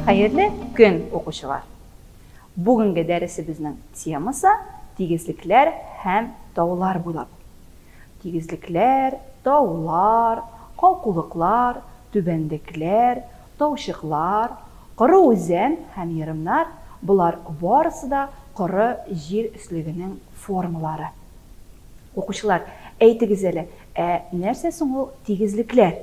Хәерле көн, укучылар! Бүгенге дәресебезнең темасы тигезлекләр һәм таулар буйлап. Тигезлекләр, таулар, калкулыклар, түбәнлекләр, таучыклар, коры үзән һәм ерымнар, болар барысы да коры җир өслегенең формалары. Укучылар, әйтегез әле, ә нәрсә соң ул тигезлекләр?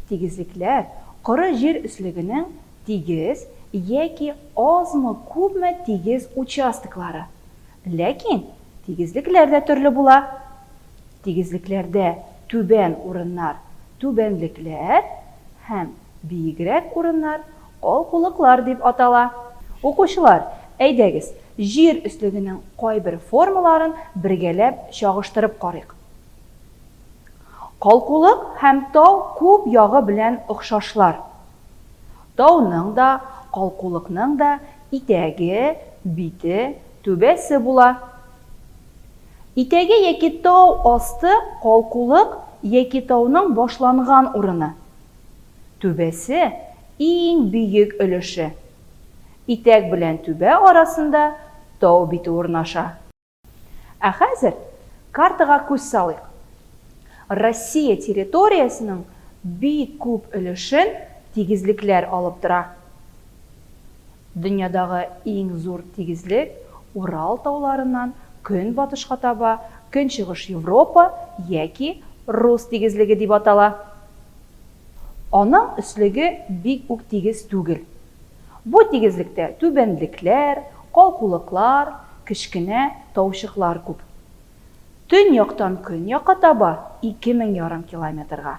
Тигезлекләр, коры җир өслегенең тигез яки азмы-күпме тигез участоклары. Ләкин Тигезлекләр дә төрле була. Тигезлекләрдә түбән урыннар, түбәнлекләр, һәм биегрәк урыннар, калкулыклар дип атала. Укучылар, әйдәгез, Җир өслегенең кайбер формаларын бергәләп чагыштырып карыйк. Калкулык һәм тау күп ягы белән охшашлар. Тауның да, калкулыкның да Итәге, бите, түбәсе була. Итәге яки тау асты, калкулык яки тауның башланган урыны. Түбәсе, иң бөек өлеше. Итәк белән түбә арасында тау бите урнаша. Ә хәзер картага күз салыйк. Россия территориясенең бик күп өлешен тигезлекләр алып тора. Дөньядагы иң зур тигезлек Урал тауларыннан көнбатышка таба Көнчыгыш Европа яки Рус тигезлеге дип атала. Аның өслеге бик үк тигез түгел. Бу тигезлектә түбәнлекләр, калкулыклар, кечкенә таучыклар күп. Төньяктан көньякка таба, ике мең ярым километрга,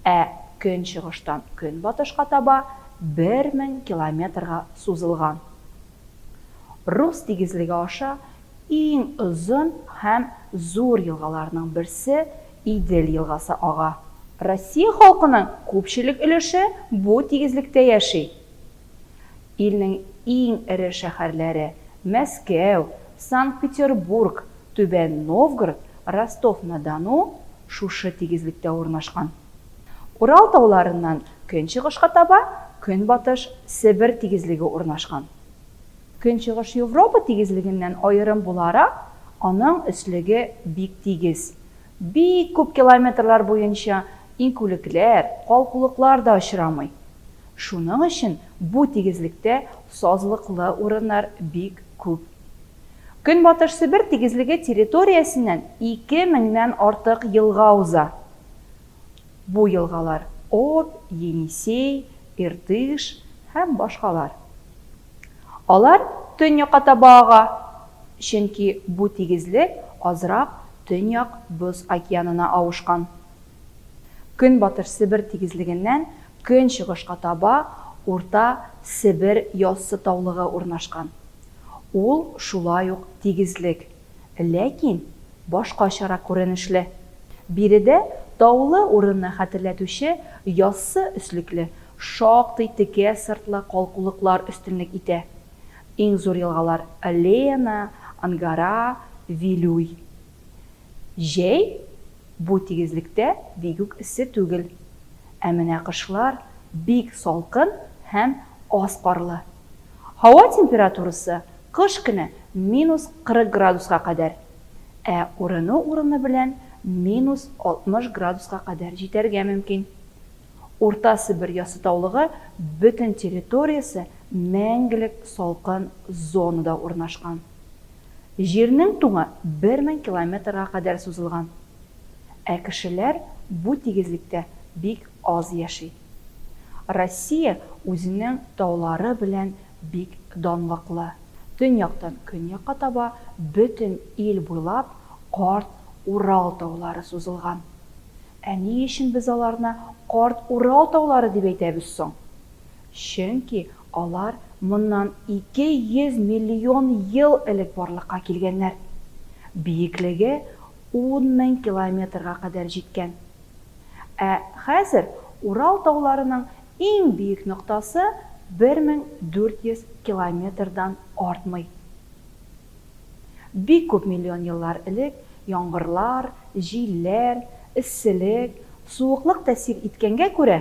ә көнчыгыштан көнбатышка таба, бер мең километрга сузылган. Рус тигезлеге аша Иң озын һәм зур елгаларның берсе Идел елгасы ага. Россия халкының күпчелек өлеше бу тигезлектә яши. Илнең иң эре шәһәрләре, Мәскәү, Санкт-Петербург, Түбән Новгород, Ростов-на-Дону шушы тигезлектә урнашкан. Урал тауларыннан көнчыгышка таба Көнбатыш Себер тигезлеге урнашкан. Көнчыгыш Европа тигезлегеннән аерым буларак, аның өслеге бик тигез. Бик күп километрлар буенча иңкүлекләр, калкулыклар да очрамый. Шуның өчен бу тигезлектә сазлыклы урыннар бик күп. Көнбатыш Себер тигезлеге территориясеннән ике меңнән артык елга уза. Бу елгалар, Обь, Енисей, Иртыш һәм башкалар. Алар төньякка таба ага, чөнки бу тигезлек азрак Төньяк Боз океанына авышкан. Көнбатыш Себер тигезлегеннән көнчыгышка таба Урта Себер яссы таулыгы урнашкан. Ул шулай ук тигезлек. ләкин башкачарак күренешле. Биредә таулы урынны хәтерләтүче яссы өслекле, шактый текә сыртлы калкулыклар өстенлек итә. Иң зур елгалар, Лена, Ангара, Вилюй. Җәй бу тигезлектә бик үк эссе түгел. Ә менә кышлар бик салкын һәм аз карлы. Һава температурасы Кыш көне минус 40 градуска кадәр, ә урыны-урыны белән минус 60 градуска кадәр җитәргә мөмкин. Урта Себер яссытаулыгы бөтен территориясе мәңгелек салкын зонада урнашкан. Җирнең туңы 1000 километрга кадәр сузылган. Ә кешеләр бу тигезлектә бик аз яши. Россия үзенең таулары белән Бик данлыклы. Төньяктан көньякка таба бөтен ил буйлап Карт Урал таулары сузылган. Ә ни өчен без аларны Карт Урал таулары дип әйтәбез соң? Чөнки алар моннан 200 миллион ел элек барлыкка килгәннәр. Биеклеге ун мең километрга кадәр җиткән. Ә хәзер Урал тауларының Иң биек ноктасы 1400 километрдан артмый. Бик күп миллион еллар элек яңгырлар, җилләр, эсселек, суыклык тәэсир иткәнгә күрә,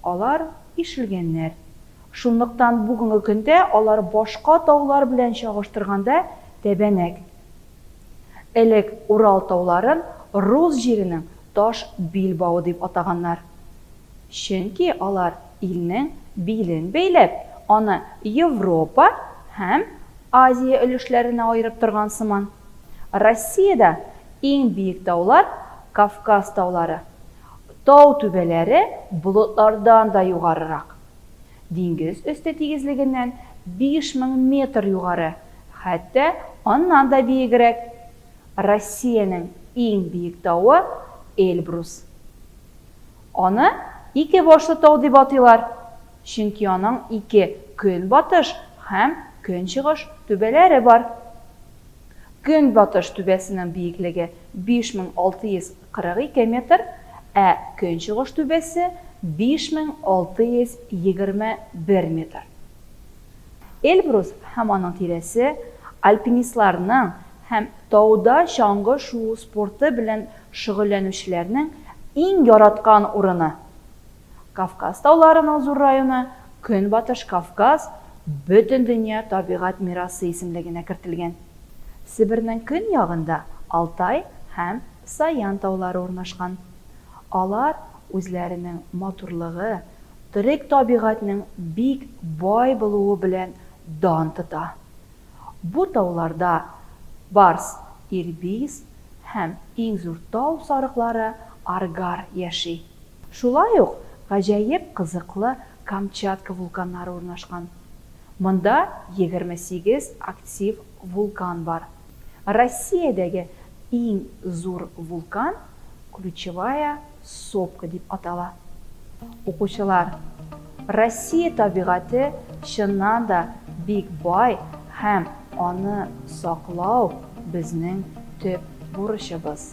алар ишелгәннәр. Шунлыктан бүгенге көндә алар башка таулар белән чагыштырганда тәбәнәк. Элек Урал тауларын рус җиренең таш билбавы дип атаганнар. Чөнки алар илнең билен бәйләп, аны Европа һәм Азия өлешләренә аерып торган сыман. Россиядә иң биек таулар, Кавказ таулары. Тау түбәләре болытлардан да югарырак. Диңгез өсте тигезлегеннән 5000 метр югары, хәтта аннан да биегрәк. Россиянең иң биек тавы, Эльбрус. Аны Ике башлы тау дип атыйлар, чөнки аның ике көнбатыш һәм көнчыгыш түбәләре бар. Көнбатыш түбәсенең биеклеге 5642 метр, ә көнчыгыш түбәсе 5621 метр. Эльбрус һәм аның тирәсе альпинистларның һәм тауда чаңгы шуу спорты белән Шөгыльләнүчеләрнең иң яраткан урыны, Кавказ тауларының зур районы, Көнбатыш Кавказ Бөтендөнья табигать мирасы исемлегенә кертелгән. Себернең көньягында Алтай һәм Саян таулары урнашкан. Алар үзләренең матурлыгы, төрек табигатьнең бик бай булуы белән дан тота. Бу тауларда Барс, Ирбис һәм иң зур тау сарыклары Аргар яши. Шулай ук гаҗәеп кызыклы Камчатка вулканнары урнашкан. Монда 28 актив вулкан бар. Россиядәге иң зур вулкан Ключевая сопка дип атала. Укучылар, Россия табигате чыннан да бик бай һәм аны саклау безнең төп бурычыбыз.